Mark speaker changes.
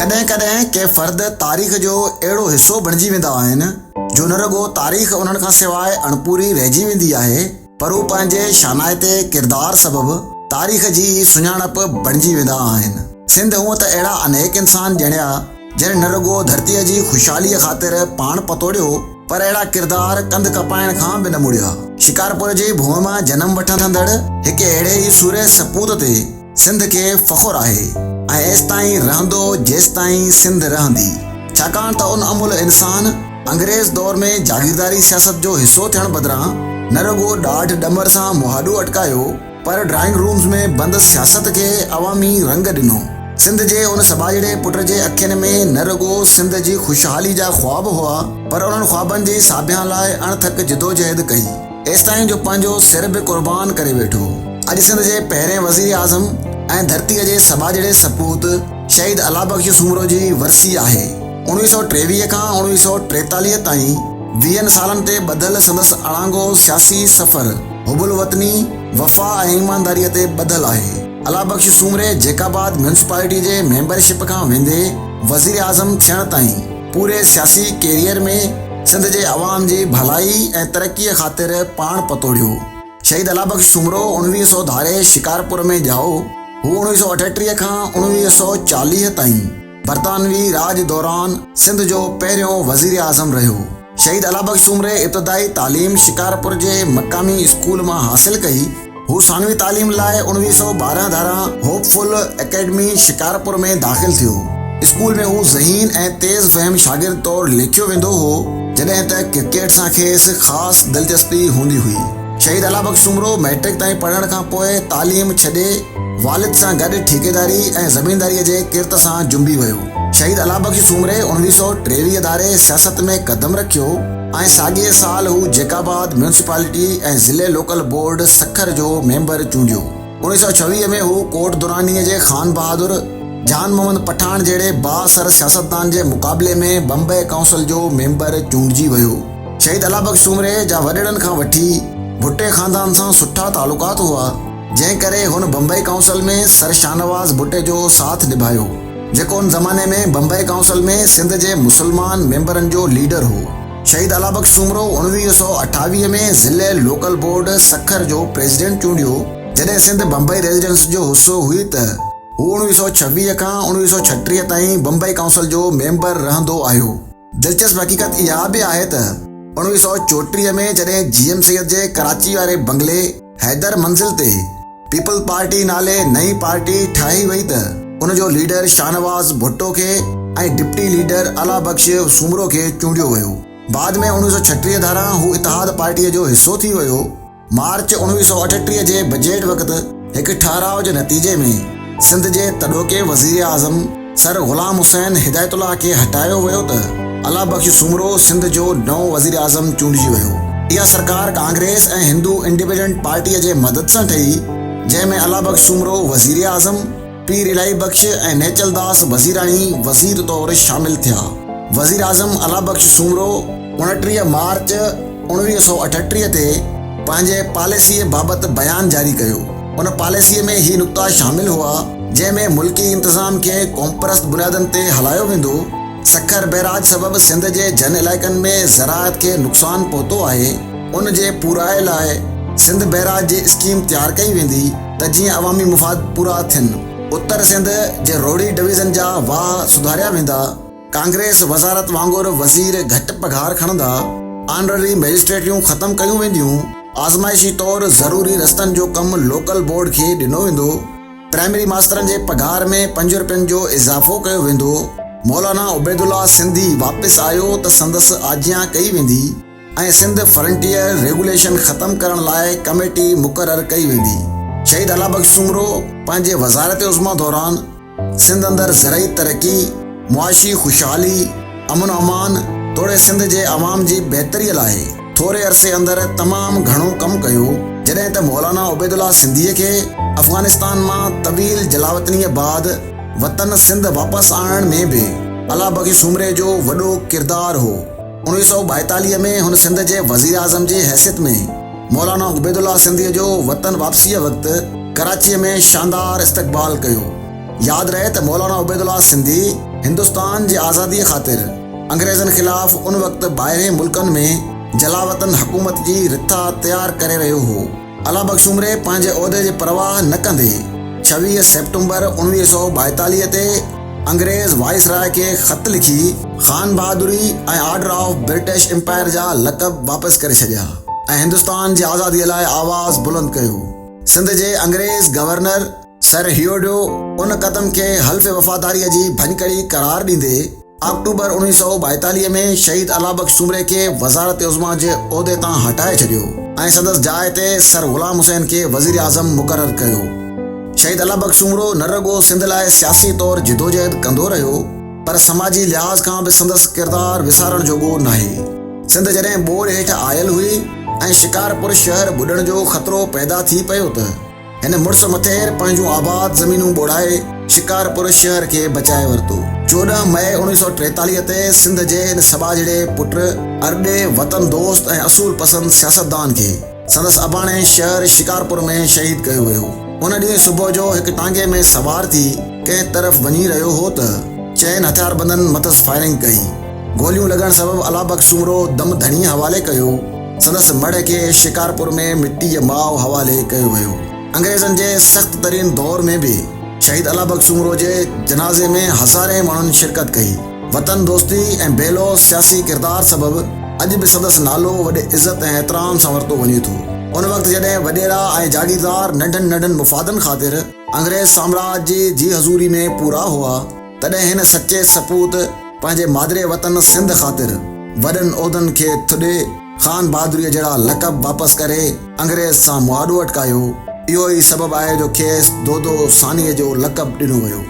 Speaker 1: ڪڏهن ڪڏهن ڪي فرد تاريخ جو اهڙو حصو بڻجي ويندا آهن جو نه رڳو تاريخ انهن کان سواء اڻپوري رهجي ويندي آهي پر هو پنهنجي شانائتي ڪردار سبب تاريخ جي ئي سڃاڻپ بڻجي ويندا آهن. سنڌ هونء ته اهڙا انيڪ انسان ڄڻيا جن نه رڳو ڌرتيء جي خوشحاليء خاطر پاڻ پتوڙيو پر اهڙا ڪردار ڪنڌ ڪپائڻ کان به نه مڙيا. شڪارپور جي ڀونء مان جنم وٺندڙ هڪ اهڙي ئي سورهيه سپوت تي، سنڌ کي فخر آهي ۽ ايستائين رهندو جيستائين سنڌ رهندي ڇاڪاڻ ته ان املهه انسان انگريز دور ۾ جاگيرداري سياست جو حصو ٿيڻ بدران نه رڳو ڏاڍ ڏمر سان مهاڏو اٽڪايو پر ڊرائنگ رومز ۾ بند سياست کي عوامي رنگ ڏنو. سنڌ جي ان سٻاجهڙي پٽ جي اکين ۾ نه رڳو سنڌ جي خوشحالي جا خواب هئا پر انهن خوابن جي ساڀيان لاء اڻ ٿڪ جدوجهد ڪئي. ايستائين جو پنهنجو سر به قربان ڪري ويٺو. اڄ سنڌ جي پهرين وزير اعظم ۽ ڌرتيء جي سٻاجهڙي سپوت شهيد الله بخش سومرو جي ورسي آهي. اڻويهه سؤ ٽيويهه کان اڻويهه سؤ ٽيتاليهه تائين ويهن سالن تي ٻڌل سندس اڻانگو سياسي سفر حب الوطني، وفا ۽ ايمانداريء تي ٻڌل آهي. الله بخش سومري جيڪاباد ميونسپالٽيء جي ميمبر شپ کان ويندي وزير اعظم ٿيڻ تائين، پوري سياسي ڪيريئر ۾ سنڌ جي عوام جي ڀلائي ۽ ترقي خاطر پاڻ پتوڙيو. شهيد الله بخش سومرو اڻويهه سؤ ڌاري شڪارپور ۾ ڄائو. هو اڻويهه سؤ اٺٽيهه کان اڻويهه سؤ چاليهه تائين برطانوي راڄ دوران سنڌ جو پهريون وزيراعظم رهيو. شهيد الله بخش سومري ابتدائي تعليم شڪارپور جي مقامي اسڪول مان حاصل ڪئي. هو ثانوي تعليم لاء اوڻويهه سؤ ٻارهن ڌاران هوپ فل اڪيڊمي شڪارپور ۾ داخل ٿيو. اسڪول ۾ هو ذهين ۽ تيز فهم شاگرد طور ليکيو ويندو هو، جڏهن ته ڪرڪيٽ سان کيس خاص دلچسپي هوندي هئي. شهيد الله بخش سومرو مئٽرڪ تائين پڙهڻ کان پوء تعليم ڇڏي والد سان گڏ ٺيڪيداري ۽ زمينداريء جي ڪرت سان جنبي ويو. شهيد الله بخش سومري اوڻويهه سؤ ٽيويهه ڌاري سياست ۾ قدم رکيو. ۽ ساڳئي سال هو جيڪب آباد ميونسپالٽي ۽ ضلعي لوڪل بورڊ سکر جو ميمبر چونڊيو. اوڻيهه سؤ ڇويهه ۾ هو ڪوٽ درانيء جي خان بهادر جان محمد پٺاڻ جهڙي بااثر سياستدان جي مقابلي ۾ بمبئي ڪائونسل جو ميمبر چونڊجي ويو. شهيد الله بخش سومري جا وڏڙن کان وٺي ڀٽي خاندان سان سٺا تعلقات هئا، جنهن ڪري هن بمبئي ڪائونسل ۾ سر شاهنواز ڀٽي جو ساٿ نڀايو. جيڪو ان زماني ۾ بمبئي ڪائونسل ۾ سنڌ جي مسلمان ميمبرن جو ليڊر هو. شهيد الله بخش سومرو اڻويهه سؤ اٺاويهه ۾ ضلعي لوڪل بورڊ سکر جو پريزيڊنٽ چونڊيو جڏهن سنڌ بمبئي ريزيڊنس جو حصو هئي ته هو اڻويهه سؤ ڇويهه کان اڻويهه سؤ ڇٽيهه تائين بمبئي ڪائونسل جو ميمبر رهندو آيو. دلچسپ حقيقت اها به آهي ته اڻويهه سؤ چوٽيهه ۾ جڏهن جي ايم سيد جي ڪراچي واري بنگلي، حيدر منزل تي پيپلز پارٽي نالي نئين پارٽي ٺاهي وئي ته ان جو ليڊر شاهنواز ڀٽو کي ۽ ڊپٽي ليڊر الله بخش سومرو کي چونڊيو ويو. بعد ۾ اڻويهه سؤ ڇٽيهه ڌاران هو اتحاد پارٽيء جو حصو ٿي ويو. مارچ اڻويهه سؤ اٺٽيهه جي بجيٽ وقت هڪ ٺهراء جي نتيجي ۾ سنڌ جي تڏهوڪي وزيراعظم، سر غلام حسين هدايت الله کي هٽايو ويو ته الله بخش سومرو سنڌ جو نئون وزيراعظم چونڊجي ويو. اها سرڪار ڪانگريس ۽ هندو انڊپينڊنٽ پارٽيء جي مدد سان ٺهي، جنهن ۾ الله بخش سومرو وزيراعظم، پير الاهي بخش ۽ نيچل داس وزيراڻي وزير طور شامل ٿيا. وزيراعظم الله بخش سومرو، اڻٽيهه مارچ اوڻويهه سؤ اٺٽيهه تي پنهنجي پاليسيء بابت بيان جاري ڪيو. ان پاليسيء ۾ هي نقطا شامل هئا، جنهن ۾ ملڪي انتظام کي قومپرست بنيادن تي هلايو ويندو، سکر بئراج سبب سنڌ جي جن علائقن ۾ زراعت کي نقصان پهتو آهي، ان جي پورائي لاء سنڌ بئراج جي اسڪيم تيار ڪئي ويندي ته جيئن عوامي مفاد پورا ٿين. اتر سنڌ جي روهڙي ڊويزن جا واهه سڌاريا ويندا. ڪانگريس وزارت وانگر وزير گهٽ پگهار کڻندا، آنرري مئجسٽريٽيون ختم ڪيون وينديون، آزمائشي طور ضروري رستن جو ڪم لوڪل بورڊ کي ڏنو ويندو، پرائمري ماسترن جي پگهار ۾ پنج رپين جو اضافو ڪيو ويندو، مولانا عبيدالله سنڌي واپس آيو ته سندس آجيان ڪئي ويندي. ۽ سنڌ فرنٽيئر ريگوليشن ختم ڪرڻ لاء ڪميٽي مقرر ڪئي ويندي. شهيد الله بخش سومرو پنهنجي وزارت عظميٰ دوران سنڌ اندر زرعي ترقي، معاشي خوشحالي، امن و امان توڙي سنڌ جي عوام جي بهتري لاء ٿوري عرصي اندر تمام گهڻو ڪم ڪيو جڏهن ته مولانا عبيدالله سنڌيء کي افغانستان مان طويل جلاوطنيء بعد وطن سنڌ واپس آڻڻ ۾ به الله بخش سومري جو وڏو ڪردار هو. اڻويهه سؤ ٻائيتاليهه ۾ هن سنڌ جي وزيراعظم جي حيثيت ۾ مولانا عبيدالله سنڌيء جو وطن واپسيء وقت ڪراچيء ۾ شاندار استقبال ڪيو. ياد رهي ته مولانا عبيدالله سنڌي هندستان جي آزاديء خاطر انگريزن خلاف ان وقت ٻاهرين ملڪن ۾ جلاوطن حڪومت جي رٿا تيار ڪري رهيو هو. الله بخش سومري پنهنجي عهدي جي پرواهه نه ڪندي ڇويهه سيپٽمبر اوڻويهه سؤ ٻائيتاليهه تي انگريز وائسراء کي خط لکي خان بهادري ۽ آرڊر آف برٽش امپائر جا لقب واپس ڪري ڇڏيا ۽ هندستان جي آزاديء لاء آواز بلند ڪيو. سنڌ جي انگريز گورنر سر هيوڊو ان قدم کي حلف وفاداريء جي ڀڃڪڙي قرار ڏيندي، آڪٽوبر اوڻيهه سؤ ٻائيتاليهه ۾ شهيد الله بخش سومري کي وزارت عظميٰ جي عهدي تان هٽائي ڇڏيو ۽ سندس جاء تي سر غلام حسين کي وزيراعظم مقرر ڪيو. شهيد الله بخش سومرو نه رڳو سنڌ لاء سياسي طور جدوجهد ڪندو رهيو پر سماجي لحاظ کان به سندس ڪردار وسارڻ جوڳو ناهي. سنڌ جڏهن ٻوڏ هيٺ آيل هئي ۽ شڪارپور شهر ٻڏڻ جو خطرو پيدا ٿي پيو ته. هن مڙس مٿير پنهنجون آباد زمينون ٻوڙائي شڪارپور شهر کي بچائي ورتو. چوڏهن مئي اوڻيهه سؤ ٽيتاليهه تي سنڌ جي هن سٻاجهڙي پٽ، ارڏي، وطن دوست ۽ اصول پسند سياستدان کي سندس اباڻي شهر شڪارپور ۾ شهيد ڪيو ويو. ان ڏينهن صبح جو هڪ ٽانگي ۾ سوار ٿي ڪنهن طرف وڃي رهيو هو ته چئن هٿياربندن مٿس فائرنگ ڪئي. گوليون لڳڻ سبب الله بخش سومرو دم ڌڻيء حوالي ڪيو. سندس مڙهه کي شڪارپور ۾ مٽي جي ماء حوالي ڪيو ويو. انگريزن جي سخت ترين دور ۾ به شهيد الله بخش سومرو جي جنازي ۾ هزارين ماڻهن شرڪت ڪئي. وطن دوستي ۽ بي لوث سياسي ڪردار سبب اڄ به سندس نالو وڏي عزت ۽ احترام سان ورتو وڃي ٿو. ان وقت جڏهن وڏيرا ۽ جاگيردار ننڍن ننڍن مفادن خاطر انگريز سامراج جي جي حضوري ۾ پورا هئا، تڏهن هن سچي سپوت پنهنجي مادري وطن سنڌ خاطر وڏن عهدن کي ٿڏي خان بهادريء جهڙا لقب واپس ڪري انگريز سان مهاڏو اٽڪايو، اهو ئي سبب آهي جو کيس دودو ثانيء جو لقب ڏنو ويو.